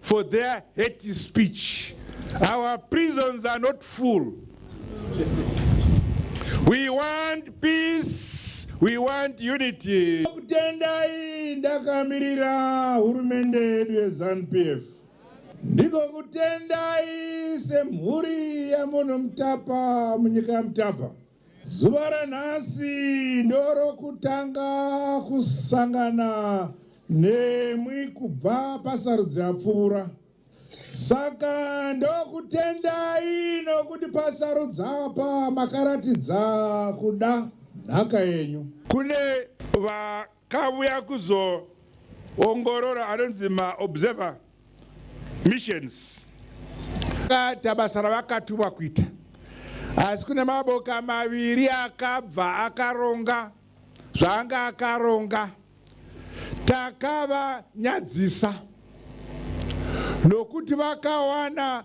for their hate speech our prisons are not full we want peace We want unity. Kutendai ndakamirira hurumende yedu yeZanu-PF. Ndiko kutendai semhuri yaMono Mutapa munyika yaMutapa. Zuva ranhasi ndorokutanga kusangana nemwi kubva pasarudzo yapfuura. Saka ndokutendai nokuti pasarudzo apa makaratidza kuda nhaka yenyu. Kune Kauya kuzoongorora anonzi maObserver Missions. Akaita basa ravakatumwa kuita asi kune maboka maviri akabva akaronga zvaanga akaronga. Takavanyadzisa nokuti vakawana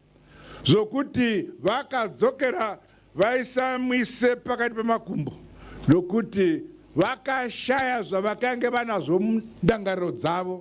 zvokuti vakadzokera vaisamwise pakati pemakumbo nokuti vakashaya zvavakange vanazvo mundangariro dzavo.